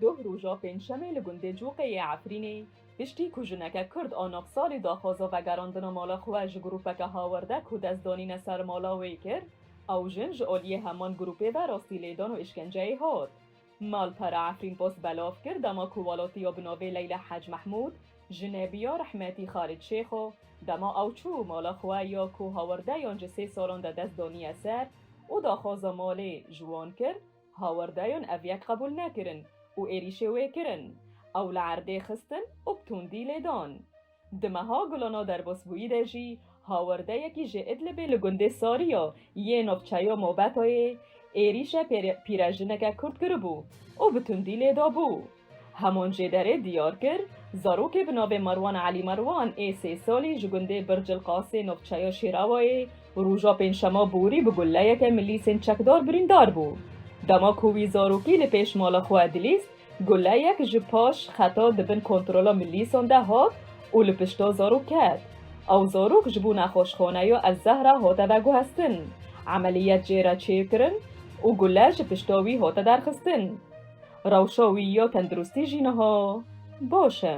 Doh roja pêncşemê li gundê Coqê yê Efrînê piştî ku jineke Kurd a nav salî daxwaza vegerandina mala xwe ji grûpeke hawerde ku dest danîne ser mala wê kir, ew jin ji aliyê heman grûpê ve rastî lêdan û îşkenceyê hat. Malpera Efrînpost belav kir dema ku welatiya bi navê Leyla Hec Mehmûd jine biya Rehmetî Xalid Şêxo, dema ew çû mala xwe ya ku hawerdeyan ji sê salan de dest daniye ser û daxwaza malê ji wan kir, Hawerdayon ev yek qebûl nekirin û êrîşê wê kirin. Ew li erdê xistin û bi tundî lê dan. Di meha Gulano derbasbûyî de jî hawerdeyekî ji Idlibê li gundê Sariya yê navçeya Mobetayê êrîşe pîrejineke Kurd kiribû û bi tundî lê dabû. Hemoncêderê diyar kir, zarokê bi navê Marwan Elî Marwan ê sê salî ji gundê Bircil Qasê navçeya Şêrawayê, roja pêncşema borî bi gulleyeke milîsên çekdar birîndar bû. Dema ku wî zarokî li pêş mala xwe dilîst, gulleyek ji paş xeta di bin kontrola milîsan de hat û li pişta zarok ket. Ew zarok ji bo nexweşxaneya El Zehra hate veguhestin, emeliyet jê re çêkirin û gulle ji pişta wî hate derxistin. Rewşa wî ya tenduristî jî niha baş e.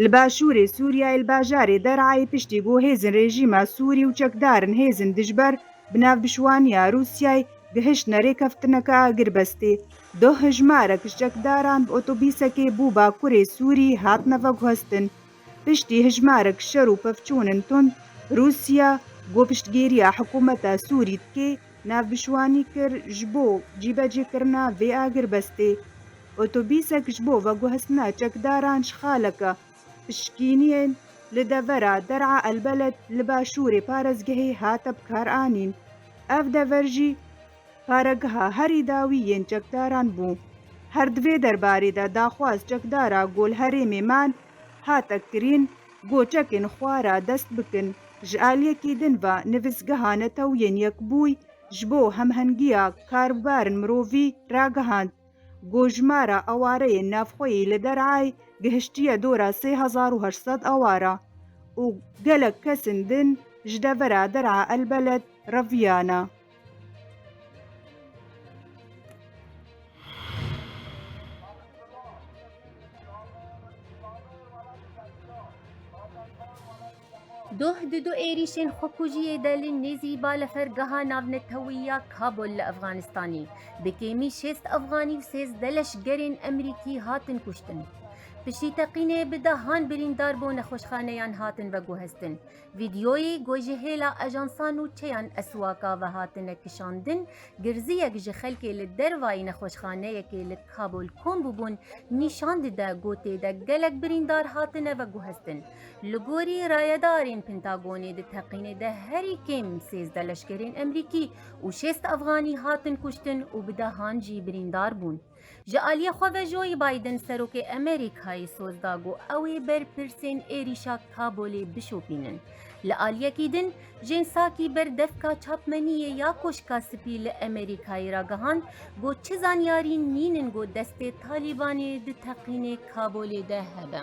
Li başûrê Sûriyeyê li bajarê Der'ayê piştî ku hêzên rejîma Sûrî û çekdarên hêzên dijber bi navbişwaniya Rûsyayê gihiştine rêkeftineke agirbestê, duh hejmarek ji çekdaran bi otobîsekê bû bakurê Sûrî hatine veguhestin. Piştî hejmarek şer û pevçûnên tund, Rûsya ku piştgîriya hikûmeta Sûrî dike, navbişwanî kir ji bo cîbecîkirina vê agirbestê. Otobîsek ji bo veguhestina çekdaran ji xaleke pişkîniyên li devera Der'a El Beled li başûrê parêzgehê hate bikaranîn. Ev dever jî, Paregeha herî dawî yên çekdaran bû. Her di vê derbarê de daxwaz çekdara gol herêmê man hate kirîn go çekên xwe ra dest bikin ji aliyekî din ve nivîsgeha netewiyên yekbûy ji bo hemhengiya karbibarin mirovî ragihand go jimara awareyên navxweyî li derayê gihiştiye dora sê hezar û heşt sed awara û gelek kesên din ji devera dera elbeled reviyana. Doh di du êrîşên xwekujiyê de li nêzî balafirgeha navnetewî ya Kabul li Efxanistanê bi kêmî şêst Efxanî û sêzdeh leşgerên Amerîkî hatin kuştin. Piştî teqînê bi dehan birîndar bo nexweşxaneyan hatin veguheztin. Vîdeoyê ku ji hêla ajansa nûçeyan Eswaka ve hatine kişandin, girziyek ji xelkê li dervayî nexweşxaneyekê li Kabul kom bûbûn nîşan dide ku tê de gelek birîndar hatine veguheztin. Li gorî rayedarên Pentagonê di teqînê de herî kêm sêzde leşkerên Emerîkî û şêst Efganî hatin kuştin û bi dehan jî birîndar bûn. Ji aliyê xwe ve Joe Biden Serokê Amerîkayê soz da ku ew ê berpirsên êrîşa Kabûlê bişopînin. Li aliyekî din Jen Psaki ber Devka Çapmeniyê ya Koşka Spî li Amerîkayê ragihand ku çi zanyarîn nînin ku destê Talîbanê di teqînê Kabûlê de hebe.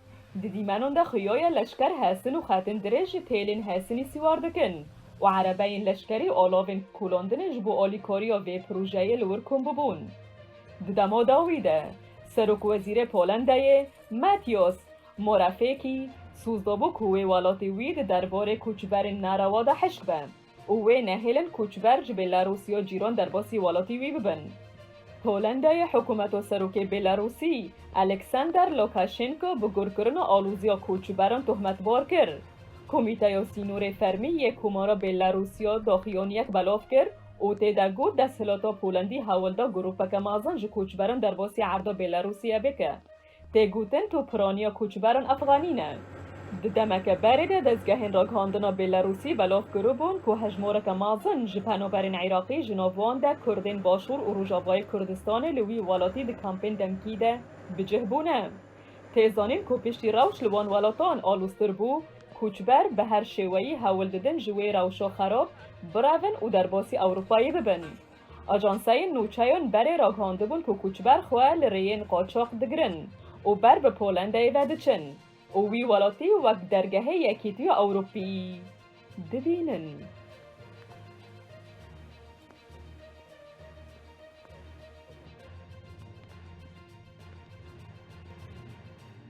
Di dîmenan de xuyoyê leşker hesin û xetin dirêj ji têlên hesinî siwar dikin û erebeyên leşkerî alavên kulandinê ji bo alîkariya vê projeyê li wir kom bûbûn. Di dema dawî de Serokwezîrê Polendayê Mateusz Morawiecki soz dabû ku wê welatê wî di derbarê koçberên nerewa de hişk be. û wê nehêlin koçber ji Bêlarûsî û cîran derbasî welatî wî bibin. Polandayê hikûmeto Serokê Bêlarûsî Alexander Lukaşenko bi gurkirina alozîya koçberan tohmetbar kir. Komîteya Sînorê Fermî yê Komara Bêlarûsîya daxuyaniyek belav kir û tê de got desthilata Polandî hewl da grûpeke mezin ji koçberan derbasî erda Bêlarûsîye bike. Tê gotin tu piraniya koçberan efxanî ne. Di demeke berê de dezgehên ragihandina Bêlerûsî belav kiribûn ku hejmareke mezin ji penaberên Iraqî ji nav wan de Kurdên Başûr û Rojavayê Kurdistanê li wî welatî di kampên demkî de bi cih bûne. Tê zanîn ku piştî rewş li wan welatan aloztir bû, koçber bi her şêweyî hewl didin ji wê rewşa xerab birevin û derbasî Ewropayê bibin. Ajanseyên nûçeyan berê ragihandibûn ku koçber xwe li rêyên qaçax digirin û ber bi Polandayê ve diçin û wî welatî wek dergehê Yekîtiya Ewropîyî dibînin.